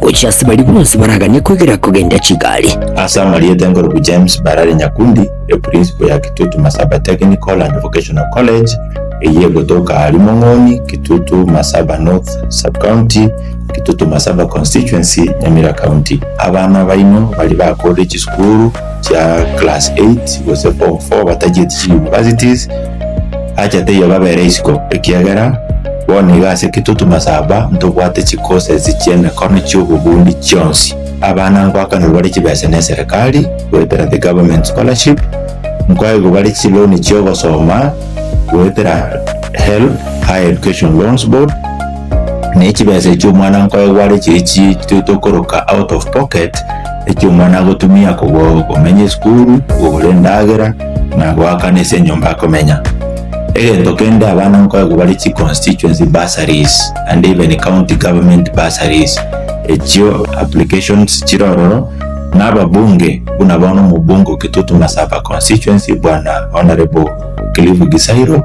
Gochia ase baria bonsi baraganie kwegera kogenda chigari. Ase amarieta enkorubu James Barare Nyakundi, epurinsipo ya Kitutu Masaba Technical and Vocational College, eyio egotoka aaria Mong'oni, Kitutu Masaba North Sub-County, Kitutu Masaba Constituency, Nyamira County. Abana baino baria bakorire chisukuru chia class 8 gose form 4 batachieti chi universities, Acha teiyo babere isiko, ekiagera bono iga ase kitutu masaba ntobwate chikosesi chi'emekono chi'obobundi chionsi. Abana ngwakanirwe bare chibesa neserekari goetera The Government Scholarship, nkoegwe bare chiloni chi'ogosoma goetera HELB, Higher Education Loans Board, na echibesa echio omwana nkoegwe are chiria chitito koroka out of pocket, echio omwana agotumia kogora komenya esukuru, kogora endagera, na goakana ase enyomba akomenya. Egento kende abana nkoegwa bare chi constituency bursaries and even county government bursaries echio applications chire ororo na ababunge buna bono omobunge o Kitutu Masaba constituency bwana Honourable Cliff Gisairo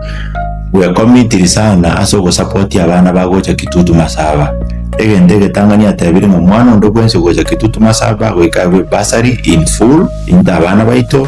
we committed sana ase ogosapotia abana bagocha Kitutu Masaba egento egetang'ani atebire ng'a omwana onde bwensi ogocha Kitutu Masaba goika abe bursary in full into abana baito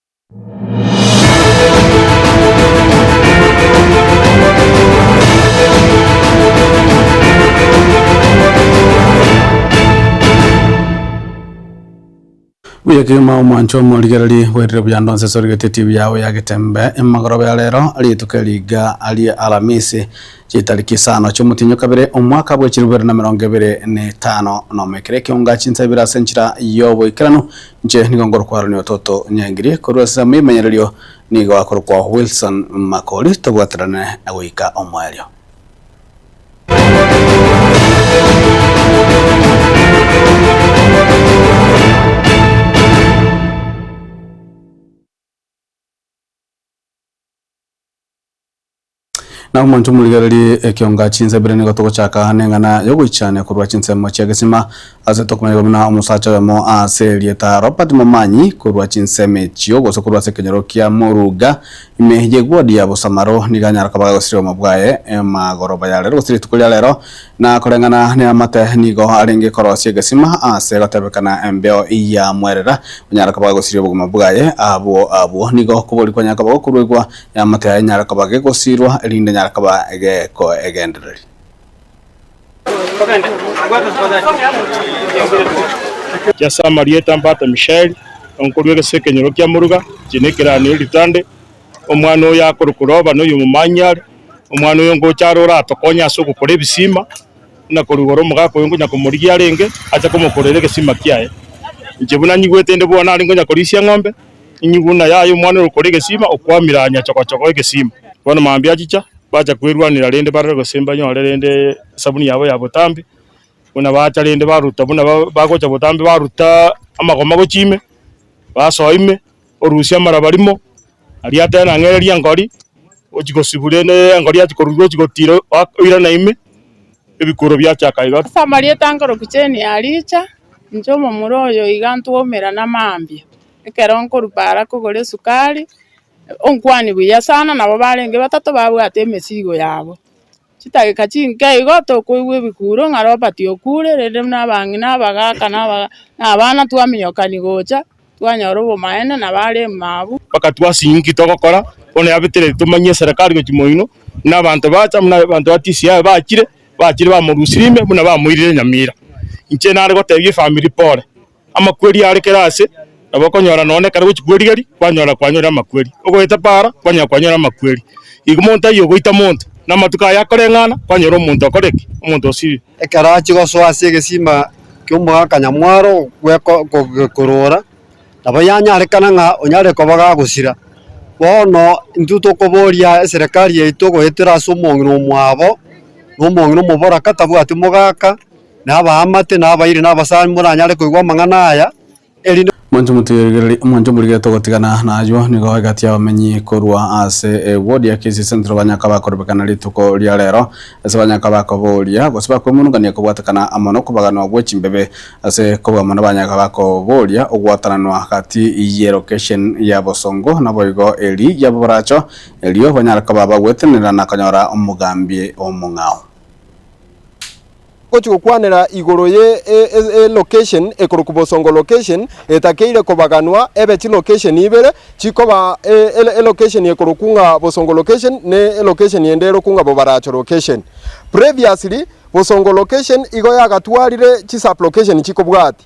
Buya kegima omwancho omorigereri bwerire buya ndonse sorigetie TV yago ya getembe emagoroba ya rero rituko eriga arie alamisi chitariki isano chiomotinyo kabere omwaka bwe chiribere na mirongo ebere na etano na omo ekero ekeonga chinsa ibere ase enchera yoboikeranu Inche nigo ngorokwa Aaron Ototo Nyangiri, korwa ase Amoimanyererio nigo akorokwa Wilson Makori, tobwaterane na goika omoerio. Na omonto omorigererie ekionga chinsa ibere nigo togochaka neng'ana yogoichania korwa chinsemo chi'egesima. Ase tokomanyete buna omosacha oyomo ase erieta Robert Momanyi korwa chinsemo echio gose korwa ase ekenyoro kia Moruga ime y'eguodi ya bosamaro nigo anyara koba agosiria obomo bwaye magoroba ya rero gose rituko ria rero na koreng'ana neamate nigo arenge korosia egesima ase egotebekana embeo yamwerera onyara koba agosiria obogima bwaye abwo abwo nigo okobori kwanyare koba gokoruegwa Eamate yaye nyare koba gegosirwa, erinde nyare koba egekoegendereri. Chiase amarieta mbate Mishaeli, onkori w'egesese ekenyoro kia moruga, chiina ekeranio eritande, omwana oyo akorokwa Oroba, na oy'omomanyare, omwana oyo ngocha are oratokonye ase ogokora ebisima, buna korigora omogaka oyo ngonya komorigia arenge, ache komokorera egesima kiaye. Inche buna nyigwete inde bono nare ngonya korisia eng'ombe, Enyiguna yaye omwana ore okora egesima okwamire aa nyachogochogo egesima. Bono mambia achicha, bacha kwerwanera rende barore gose mbanyore rende esabuni yabo ya botambe, buna bacha rende baruta buna bagocha botambe baruta amagoma gochia ime, basoa ime, orusie amaraba rimo, aria ateba na ng'ereria enkori, ochia gosibu rende enkori yachia korwa iga ochia gotira oirana ime, Ebikworo biachaka iga. Samaria etanka rokucheni yaricha, inche omomura oyo iga ntwaumera namambia, ekero nkorwa para kogora esukari, onkwani buya sana, nabo barenge batato babwate emesigo yabo, chidageka chinke igo tokoigwa ebikuro ng'a Robert okure, rende buna abang'ina, abagaka, na abana twaminyokani gocha, Twanyora obomaene na bare emaabu. Mpaka twase inki togokora bono yabetire tomanyie eserekari gochia moino buna abanto bacha buna abanto ba tisi yaye bachire bachire bamorusirie ime buna bamoirire nyamira inche nare gotebia efamiri pole amakweri are kera ase nabo okonyora nonye na ekero gochia kwerigeria kwanyora kwanyorire amakweri ogoeta paara kwanyora kwanyorire amakweri igo monto taiyo ogoita monto na amatuko aye akoreng'ana kwanyora omonto okore ki? omonto osiri. Ekero achia gosoa ase egesimba ki'omogaka nyamwaro gogekorora, nabo yanyarekana ng'a onyare koba gagosira. Bono intwe tokoboria eserekari yaito goetera ase omong'ina omwabo, na omong'ina omoboraka tabwati mogaka, na abaamate, na abairi, na abasani moranyare koigwa amang'ana aya. erinde Mwanche motigererie, mwanche morigere togotigana naywo nigo egati y'abamenyi korwa ase ewodi ya Kisii Central banyaka bakorobekana rituko ria rero ase banyaka bakoboria gose bakoimonungania kobwatekana amo nokobaganwa gwe chimbebe ase kobua mono banyaka bakoboria ogwatananwa gati ye location ya bosongo naboigo eri ya boracho erio banyare koba bagwetenenera na konyora omogambi omong'ao. Ngochia gokwanera igoro ye e location ekorokwa Bosongo location etakeire kobaganwa ebe chi location ibere chikoba e location ekorokwa ng'a Bosongo location ne e location ende erokwa ng'a Bobaracho location. Previously Bosongo location igo yagatwarire chi sub location chikobwati.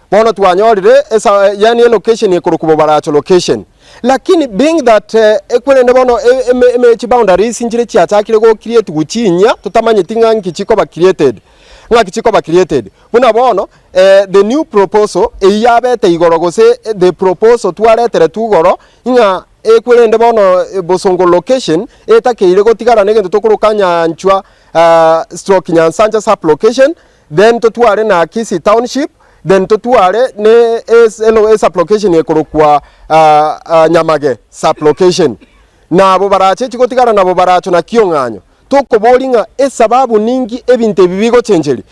Bono twanyorire esa, yaani elocation ekorokwa Bobaracho location. Lakini being that ekwerende bono e, e, chi boundaries nchire chiachakire go creatiwa chinyia totamanyeti ng'a nki chikoba created, ng'aki chikoba created. Buna bono eh, the new proposal eyio yabete igoro gose the proposal twareteretwe igoro ng'a ekwerende bono Bosongo location etakeire gotigara negento tokoroka Nyanchwa, ah, stroke Nyansancha sub-location, then totware na Kisii Township, then totware ne e sub-location ekorokwa Nyamage sub-location. Na abo barache chigotigara nabo baracho na kiong'anyo. Tokobori ng'a esababu ninki ebinto ebi bigochencheria.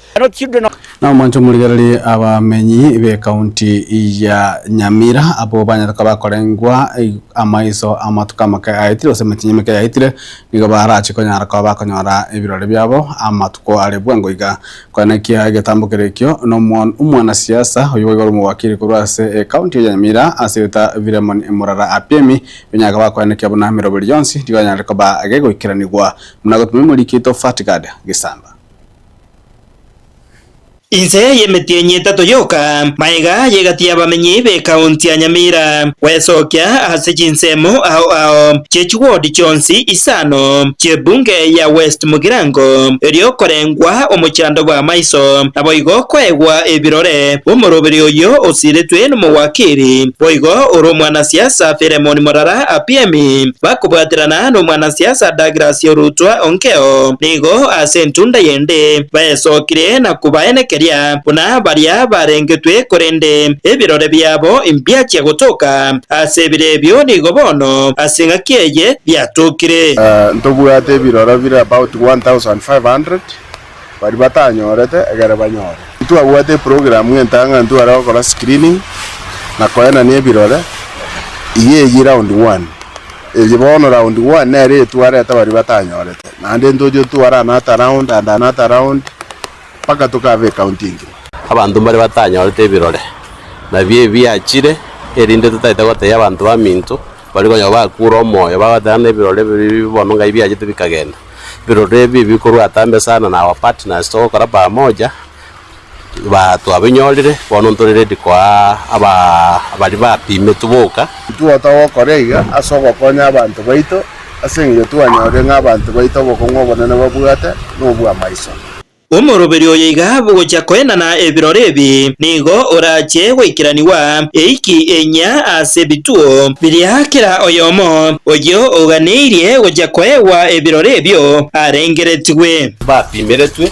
Na omonto omorigererie abamenyi b'ecounty ya Nyamira abwo banyare koba bakorengwa amaiso amatuko amake ayaetire gose emetienyi emeke yaetire, nigo barache konyara koba bakonyora ebirore biabo amatuko are bwengo iga. Koenekia egetambo kere ekio, omwanasiasa oyio boigo ore omowakiri korwa ase Ekaunti ya Nyamira ase erieta Philemon Murara Apiemi, binyaka bakoenekia buna miroberi yonsi nigo yanyarire koba gegoikeranigwa buna gotumia emoriki Tofat Gad Gisamba. Inse y'emetienyi etato yoka magega y'egati y'abamenyi bekaontia nyamira gwesokia ase chinsemo ao ao chie chiwodi chionsi isano chi'ebunge ya West mogirango erio korengwa omochando bw'amaiso, naboigo koegwa ebirore bw'omoroberi oyio osiretwe nomowakiri, boigo ore omwanasiasa Philemon Morara apiemi bakobwaterana nomwanasiasa Douglas Orutwa onkeo nigo ase entunda y'endege. ande, baesokire na kobaena ekeria buna baria barengetwe, korende ebirore biabo mbiachia gotoka ase ebire ebio, nigo bono ase engaki eye biatokire. Ntobwate ebirore bire about 1500 baria batanyorete egere banyore. Ntwabwate eprogramu entang'antu are gokora screening na koenania ebirore, iga eyio round one, Erio bono round one nere etour reta baria batanyorete, naende ntoche etour another round and another round mpaka tokaba ecounty engima. Abanto mbaria batanyorete ebirore nabio ebi biachire, erinde totaete goteebia abanto baminto baria konya bakuure omoyo, bagoteba ng'a ebirore ebi biri bibe bono ng'ai biachete bikagenda. Ebirore ebi ebi bikorwa atambe sana na our partners togokora pamoja Ba twabinyorire, bono ntore ready koa aba abari bapimetwe boka. Titwota gokora iga ase ogokonya abanto baito, ase eng'encho twanyorire ng'a abanto baito obokong'u obonene babwate nobw'amaiso. Omoroberi oyo iga gochia koenana ebirori ebi nigo orache goikeranigwa eiki enyia ase ebituo biria kera oyomo oyio oganeirie gochia koegwa ebirori ebio arengeretigwe. Bapimeretwe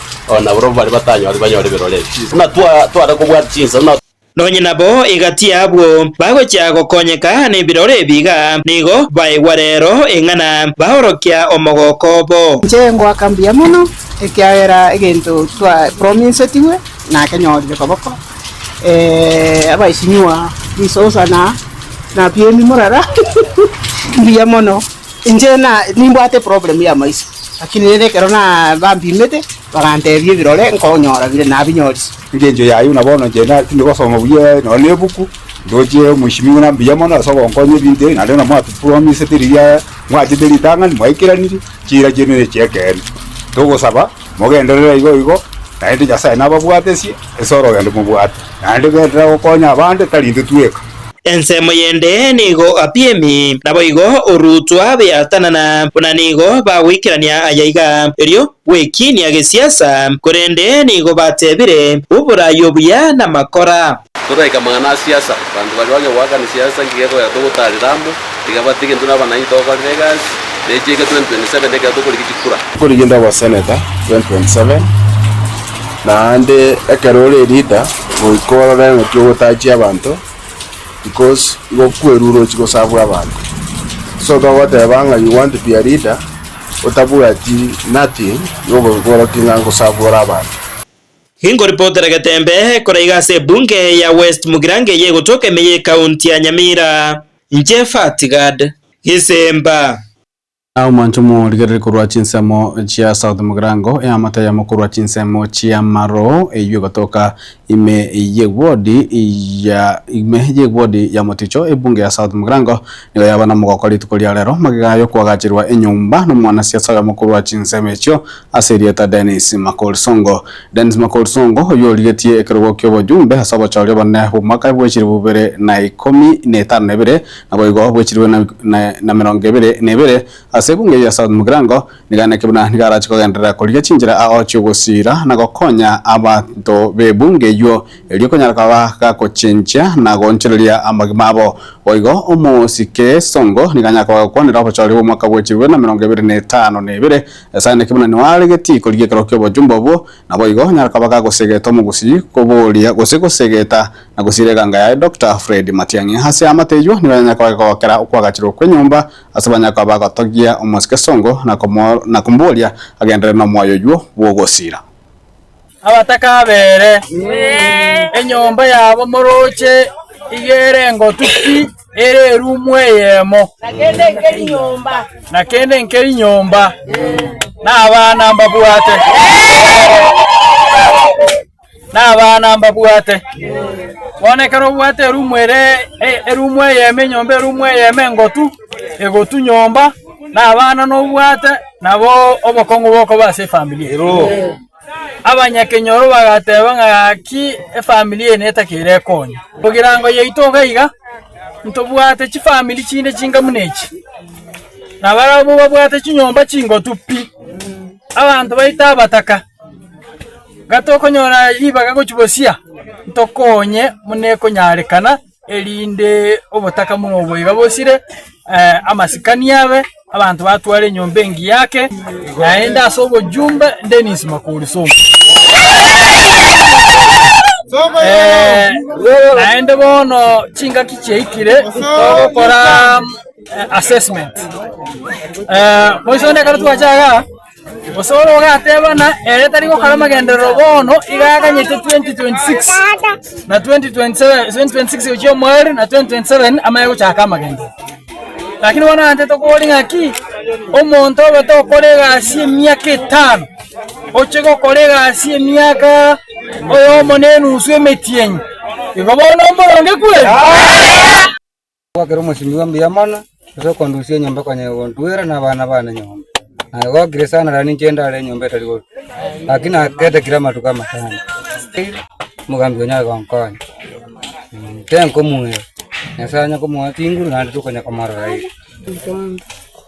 O na barobwo baria batanyorire banyore ebirorerio, buna tware kobwata chinsemo na. Nonye nabo egati y'abwo bagochia gokonyeka nebirore ebi iga, nigo baigwa rero eng'ana, baorokia omogoko obo. Inche ngoaka mbuya mono, ekiagera egento twa promisetigwe nakenyorire koboko, ee, abaisinywa, risosa na na piemi morara mbuya mono. Inche na nimbwate eproblemu y'amaiso, lakini rende ekero nabampimete, bagantebia ebirore nkonyora bire, nabinyorire. Ase engencho y'ayio buna bono inche na tindi gosoma buya nonye na ebuku, ndoche omweshimiwa na mbuya mono ase ogonkonya ebinto ebi, naende buna mwatupromisete riria mwachete ritang'ani, mwaikeranirie, chiira chiaino nechi'ekeene. Togosaba. Mogenderere igo igo, naende Nyasae nababwatesie ase orogendo mobwate, naende genderera gokonya abande, tari intwe tweka. Ensemo yende nigo apiemi, naboigo orutwa beatanana, buna nigo bagoikerania aya iga, erio gwekiinia gesiasa, korende nigo batebire, Oboraai obuya namakora. Totaika amang'ana a siasa. Abanto baria bang'e goakana siasa nigo egoeta togotaarera amo, tiga bati gento naba naintwe tokorera egasi ne chiege 2027 ekero tokorigia chikura. Tokorigia nde oboseneta 2027 naende ekero ore eleader goika orore ng'aki ogotachia abanto because igo kweru orochi gosabwa abanto so togoteba ng'a you want to be a leader otabwati nothing igo goika orokie ng'a ngosabwa ore abanto. Ingo ripoti rege tembe ekora iga ase ebunge ya West Mugirango eye egotoka emeye ekaunti ya Nyamira. Inche Fat Gad. Isemba. Omonto omorigereri korwa chinsemo chia South Mugirango, eamate yamo korwa chinsemo chia Maroo eyio egotoka ime y'ewodi ya ime y'ewodi ya Moticho, ebunge ya South Mugirango nigo yaba nomogoko rituko ria rero. Magega aya okwagacherwa enyomba nomwanasiasa oyomo korwa chinsemo echio, Ase erieta Dennis Makori Songo. Dennis Makori Songo, oyio origetie ekerogo ki'obojumbe ase obochori obonene bw'omwaka bw'echiribu bibere na ikomi na etano na ebere, naboigo bw'echiribu na na emerongo ebere na ebere, ase ebunge ya South Mugirango, niga naki buna nigo arache kogenderera korigia chinchera ao chi'ogosiira na gokonya abanto b'ebunge eyio, erio konyara koba gakochenchia na goonchoreria amagima abo. Boigo omosike Songo nigo anyare koba gakwanera obochori bw'omwaka bw'echiribu bibere na emerongo ebere na etano na ebere, Nyasae naki buna nioaregetie koria gekerero ki'obojumbe obwo, naboigo nyara kaba gagosegeta omogusii koboria gose gosegeta na gosiira eganga yaye Doctor Fred Matiang'i. Ase aamate ayio nigo yanyara koba gegookera okwagachirwa kw'enyomba ase banyare koba bagotogia omosike songo na komoboria agenderere nomoyo oyio bw'ogosiira. abatakabere, enyomba yabo morooche iga ere engotu pi, ere erumu eyemo, na kende nkeri nyomba, na abana mbabwate, na abana mbabwate. Bono ekero obwate erumu ere erumu eyemo, enyomba erumu eyemo engotu. egotu nyomba, na abana nobwate, nabo obokong'u bokoba ase efamiri eye. Abanyakenyoro bagateba ng'a gaki efamiri eye netakeire ekonya. Egerango yaito iga iga, ntobwate chifamiri chinde chinga buna echi, na barabwo babwate chinyomba chingotu pi, abanto baito abataka. Iga tokonyora ribaga gochia bosia, ntokonye buna ekonyarekana. erinde obotaka buna obo boiga bosire amasikani abe, abanto batware enyomba engiya ake, naende ase obojumbe Dennis Makori Sonko. Eh, naende bono chingaki chiaikire togokora eh, assessment Eh, moiso onde ekero twachaga Osore ogateba ng'a ere tari gokora amagenderero bono, iga aganyete 2026 na 2027 2026 gochia omweri na 2027 amanye gochaka amagenderero. Lakini bono aganchete tokobori ng'aki, omonto obe tokora egasi emiaka etano, oche gokora egasi emiaka oyomo na enusu emetienyi, igo bono mboronge kweri? Gokira omosingi bwa mbuya mono, gose okondusia enyomba konya egontuera nabana bane nyomba. Naye gokire sana rani inche ndare enyomba etari gotu, gaki nagetakire amatuko amatano. Omogambi onya aye gonkonya, tenkomuera, Nyasae onye komoa chinguru naende tokonya komorora ere.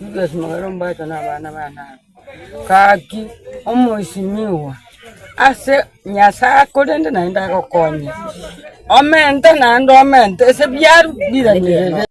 Judas magere ombaito na abana bane aba. Gaki omoesinigwa ase Nyasaye korende naende agokonye. Omente naende omente ase biaru biranerete.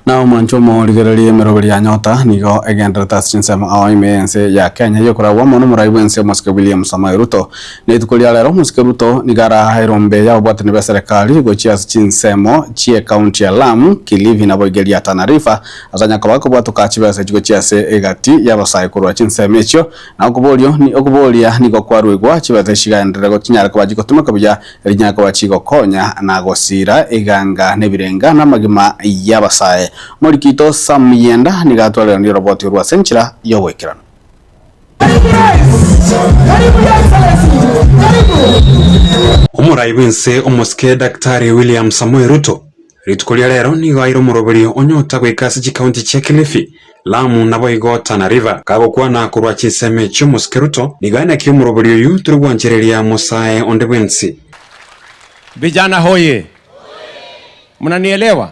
Na omoanchwa omo o rigere ria emerogo ria Nyota nigo egenderete ase chinsemo ao ime y'ense ya Kenya y'okoragwa omonwa morai bw'ense omosike William Samoei Ruto Na rituko ria rero omosike Ruto nigo araha erombe y'ababwatani b'eserekari gochia ase chinsemo chi'ekaunti ya Lamu, Kilifi na boigeria ya Tana River ase onye koba okobwatoka chibesa echi gochia ase egati y'abasae korwa chinsemo echio na okoborio okobooria nigo kwaruigwa chibesa echi chigaenderere gochinyare koba chigotimokwa buya erinyare koba chigokonya na gosiira eganga nebirenga namagima y'abasae. Omorikito Sam Muyenda nigo atwareranie oroboti orwo ase enchera y'ogoikeranu. Omoraai bw'ense omosike Daktari William Samoei Ruto rituko ria rero nigo aire omoroberi onyota goika ase chikaunti chia Kilifi, Lamu naboigo Tana River. Kagokwana korwa chinsemo echi omosike Ruto nigo aye naki omoroberi oyio tore gwanchereria mosae onde bwensi. Vijana hoye! Mnanielewa?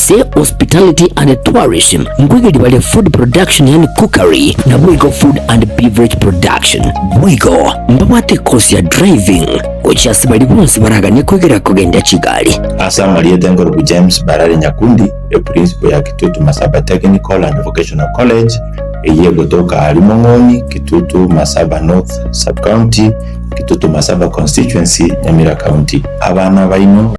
Ase Hospitality and Tourism nkoigeria bare food production yaani cookery na boigo food and beverage production. Boigo mbabwate course ya driving gochia ase baria bonsi baraganie koigera kogenda chigari. Ase amarieta enkorubu James Barare Nyakundi, epurinsipo ya Kitutu Masaba Technical and Vocational College eyio egotoka aria Mong'oni, Kitutu Masaba North Sub-County, Kitutu Masaba Constituency, Nyamira County. Abana baino.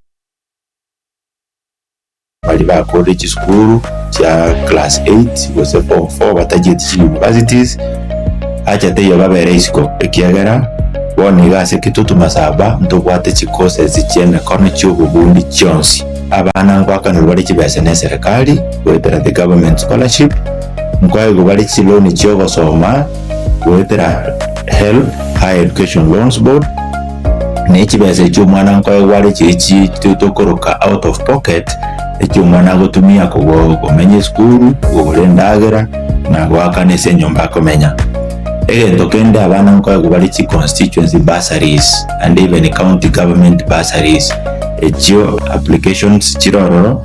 Baria bakorire chisukuru chia class eight gose form four batacheti chiuniversities, acha taiyo babere isiko, ekiagera bono iga ase egitutu masaba ntobwate chicourses chi'emekono chi'obobundi chionsi. Abana ngoakanigwe bare chibesa ne eserekari goetera the government scholarship, nkoegwe bare chiloan chi'ogosoma. goetera HELB, Higher Education Loans Board, na echibesa echio omwana nkoe gware chiri chi tokoroka out of pocket, echio omwana agotumia kogo komenya esukuru, kogora endagera, na goakana ase enyomba akomenya. Egento kende abana nkoe gobare chi constituency bursaries and even county government bursaries, echio applications chire ororo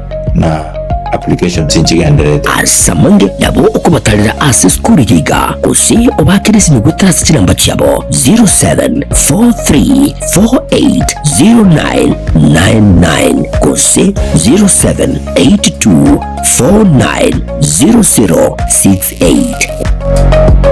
na applications nchigenderete. Ase amange nabo okobatarera ase esukuru eye iga, gose obaakere esimi goetera ase chinamba chiabo 0743480999 gose 0782490068.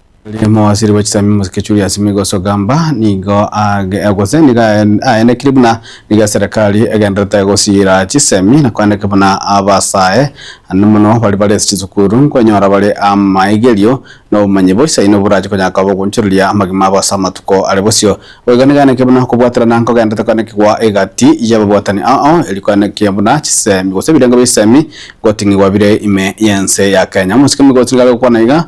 Ere mowasiri bwe chisemi Moses Julius Migos Ogamba nigo age gose nigo aen- aenekiri buna nigo eserekari egenderete gosiira chisemi na koeneka buna abasae ande mono baria bare ase chisukuru nkonyora bare amaigerio na obomanyi boisaine oborache konya kobagoonchoreria amagima abo ase amatuko are bosio. Boigo nigo aenekire buna okobwaterana nkogenderete koenekigwa egati y'ababwatani ao eri koenekia buna chisemi gose ebirengo bia chisemi ngoting'igwa bire ime y'ense ya Kenya. Omosike Migos nigo are gokwana iga.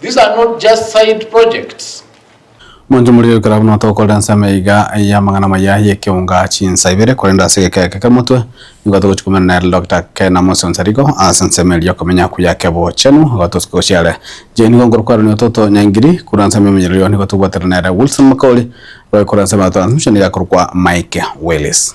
These are not just side projects. Monto moria oikore buna tokorera ensemo iga y'amang'ana maya y'ekeunga chinsa ibere, korende ase egeka eke kemotwe nigo togochia komenya na Elder Doctor Ken Amosi Nsarigo ase ensemo eria y'okomenya kuya kebochenu igo tosike gochia are. Inche nigo nkorokwa ere Nyoto to Nyangiri, korwa ensemo ya Omonyerorio nigo tobwaterana na ere Wilson Makaori, oikore ensemo ya Transmission nigo akorokwa Mike Willis.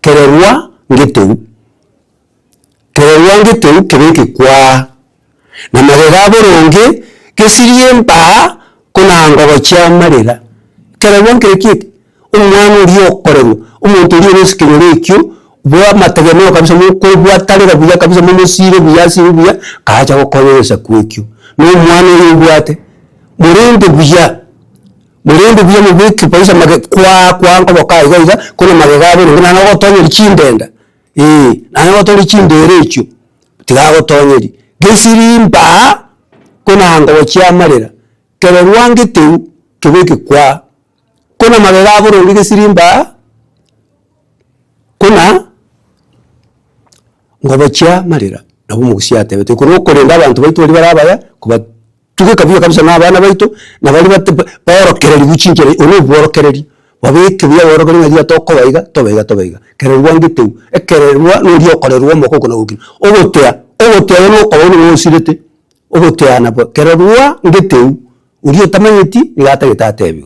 Kererwa ngeteu, kererwa ngeteu kebe gekwaa, na magega a boronge gesirie embaa ko na ngogochia amarera. Kererwa nkere kieti, omwana oria okorerwa, omonto oria ore ase ekenyoro ekio, bwa amategemeo kabisa mokobwatanera buya kabisa momosiire buya ase eyio buya, karache gokonya egesaku ekio. Na omwana oyo obwate, morende buya. Korende obuya mobeke baiso amagega kwaa kwaa nkoboka iga iga korwa amagega abo nonye naende agotoonyeria chindenda eeh naende agotoonyeria chindeera echio tigagotoonyeria gesiri mbaa kona ngobo chiamarera kero rwangeteu kebeke kwaa kona amagega abo rende gesiri mbaa kona ngobo chiamarera nabo omogusia atebete ekero okorenda abanto baito baria bare abaya koba. Tugeka buya kabisa na abana baito, na baria bate baorokereri bu chinchera, obo nobworokereri, babeke buya borokereiri ng'a riria tokoba iga, tobe iga tobe iga. Kererwa ngite u, ekererwa noria okorerwa omoko okwo na gokina. Ogotea, ogotea oyo nokoba oyo nigo osirete, ogoteana bo kererwa ngete u, oria otamanyeti nigo atagete atebi.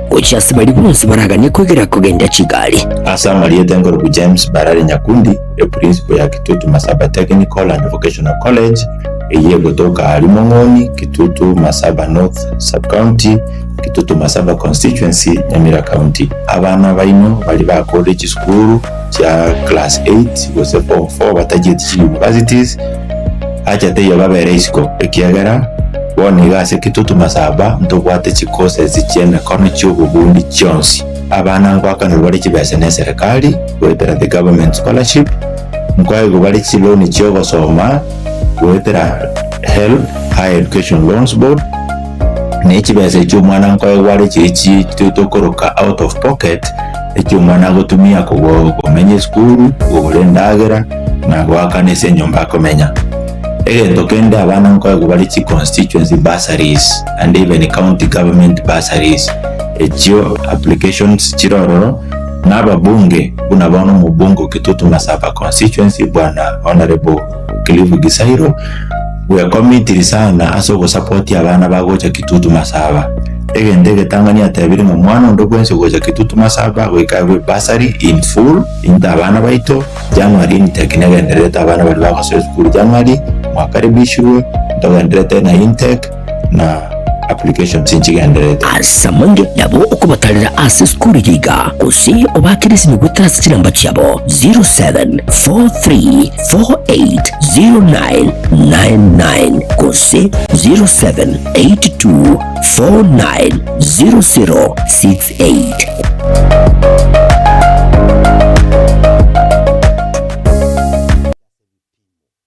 Gochia ase baria bonsi baraganie kwegera kogenda chigari. Ase amarieta enkoruku James Barare Nyakundi, epurinsipo ya Kitutu Masaba Technical and Vocational College, eyio egotoka aaria Mong'oni, Kitutu Masaba North Sub-County, Kitutu Masaba Constituency, Nyamira County. Abana baino baria bakorire chisukuru, chia class eight gose form four batachieti chi universities, acha taiyo babere isiko, ekiagera bono iga ase kitutu masaba ntobwate chi courses chia emekano chia obobundi chionsi. Abana nkoakanirwa bare chibesa ne eserekari goetera the government scholarship, nkoaigwa bare chi loan chia ogosoma goetera HELB, Higher Education Loans Board, na echibesa echio omwana nkoaigwa are chiri chi tokoroka out of pocket, Eki omwana agotumia koba okomenya esukuru, kogora endagera, na goakana ase enyomba akomenya. Egento kende abana nkoegwa bare chi constituency bursaries and even county government bursaries. Echio applications chire ororo na ababunge buna bono omobunge o Kitutu Masaba constituency bwana Hon. Kilifu Gisairo, bw'ekomi Tirisana ase ogosapotia abana bagocha Kitutu Masaba. Egento egetang'ani atebire ng'a omwana onde bwensi ogocha Kitutu Masaba agoika aigwe bursary in full into abana baito January intake negendererete abana baria bagosoa esukuru January mwakaribishirwe ntogenderete na intake na applications nchigenderete. As'amange nabo okobatarera ase sukuru eye iga, gose obakere esimi goetera ase chinamba chiabo 0743480999 gose 0782490068.